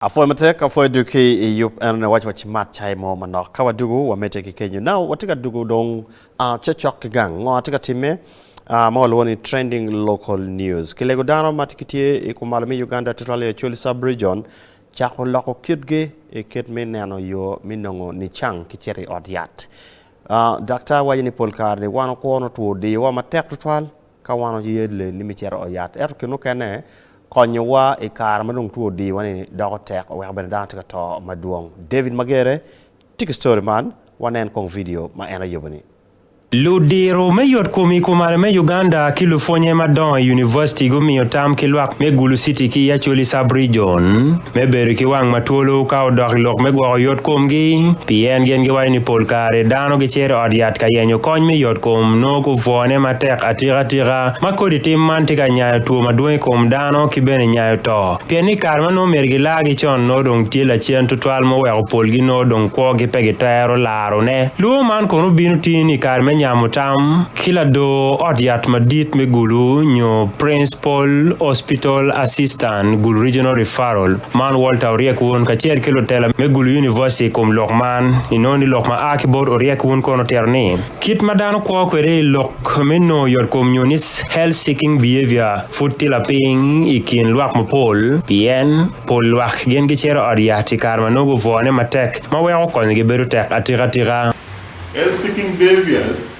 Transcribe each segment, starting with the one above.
Apwoyo matek, apwoyo dul ki i yub eno ni waco wacimat cai mo manok ka wadugu wamedde ki kenyo now watye ka dugu dong ah cocok ki gang ngo atye ka timme ah ma walwongo ni trending local news kilego dano ma ki tye i kumalo me Uganda tye twal i Acholi sub region cako loko kitgi i kit me neno yo me nongo nicang ki cito i ot yat ah daktar waco ni pol kare ni wan okwo notwo diyo wa matek tutwal Ka wan waye lelli me cito i ot yat, ento kine mukene konyowa i kare ma dong two odiyowa-ni doko tek, oweko bene dano tye ka to madwong. David Magere tye ki ctori man, wanen kong vidio ma en ayubo-ni. Ludiro me yotkom i Kumale me Uganda ki lupwonye madongo i univaciti gumiyo tam ki lwak me Gulu City ki i Acholi Sub-rijon. me bedo ki wang ma twolo ka odok i lok me gwoko yotkomgi, pien gin giwaco ni pol kare dano gicito i ot yat ka yenyo kony me yotkom, nongo gubwone matek atikatika ma kodi tim man tye ka nyayo two madwong i kom dano ki bene nyayo to. Pien ni i kare ma nongo myero gilargi con, nongo dong tye lacen tutwal ma oweko polgi nongo dong kwogi pe gitwero larone. Lwongo man kono bino tini i kare me nyamo tam ki lador ot yat madit me gulu nyo princ. Pol Hospital Assistant Gulu Regional Referral man Walter Oryek Wun kacel ki lutela me Gulu University i kom lok man inongo ni lok ma a ki bot Oryek Wun kono otito ni, Kit ma dano kwo kwede i lok me nongo yotkom nyo ni health seeking behavior pud tye lapiny i kin lwak mapol pien pol lwak gin gicito ot yat i kare ma nongo gubwone matek ma weko konyogi bedo tek atika tika. Health seeking behaviors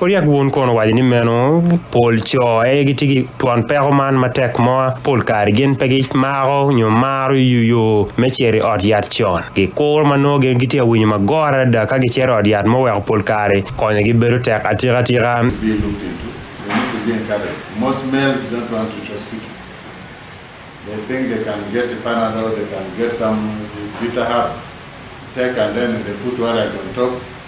Oryak wun kono owaco ni meno pol co aye gitye ki twon peko man matek mo, pol kare gin pe gimako nyo maro yuyo me cito i ot yat con. Gikuro ma nongo gin gitye ka winyo magora adada ka gicito i ot yat ma oweko pol kare konyogi bedo tek atika atika.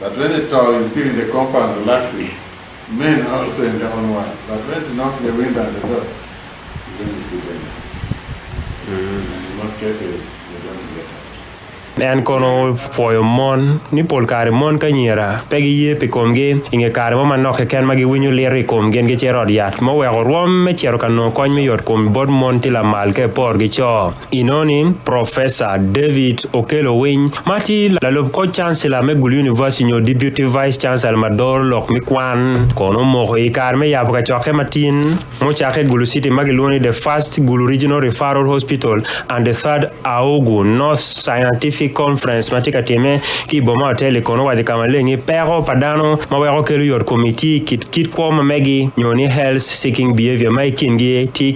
But when it tall is seen in the compound relaxing, men are also in their own world, but when it knocks the window and the door, is when you see danger. And in most cases, they don't get out. En kono opwoyo mon ni pol kare mon ki anyira pe giye pi komgi i nge kare mo manok keken ma giwinyo liro i komgi en gicito i ot yat. Muweko rwom me cito ka nongo kony me yotkom bot mon tye lamal ka epor ki co. I noni, Professor David Okello Winy ma tye lalub koc cancellor me Gulu University nyo Deputy Vice Chancellor ma doro lok me kwan kono omoko i kare me yabo kacokke ma tin mucakke i Gulu City ma gilwongo ni The First Gulu Regional Referral Hospital and the Third Aogu North Scientific Conference ma tye ka timme ki i boma Otelli kono owaco ka maleng ni peko pa dano ma weko kelo yot kom i tye i kit kit kwo ma megi nyo ni health seeking behavior ma i kingi tye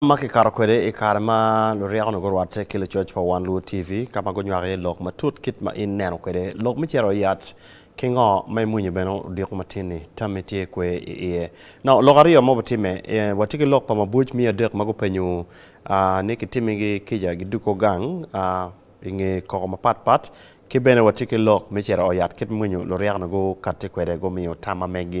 ma kikato kwede i kare ma luryeko-nu gurwatte ki lucoc pa Wan Luo TV ka ma gunywako iye lok matut kit ma in ineno kwede lok me cito i yat ki ngo ma imwinyo bene odiko matin-ni tammi tye kwe i iye. Nongo lok aryo ma wubitimme, watye ki lok pa mabuc miya adek ma gupenyo ni kitimmigi kica giduggo gang i nge koko mapat pat ki bene watye ki lok me cito i yat kit ma imwinyo luryeko-nu gukatti kwede gumiyo tam ma meggi.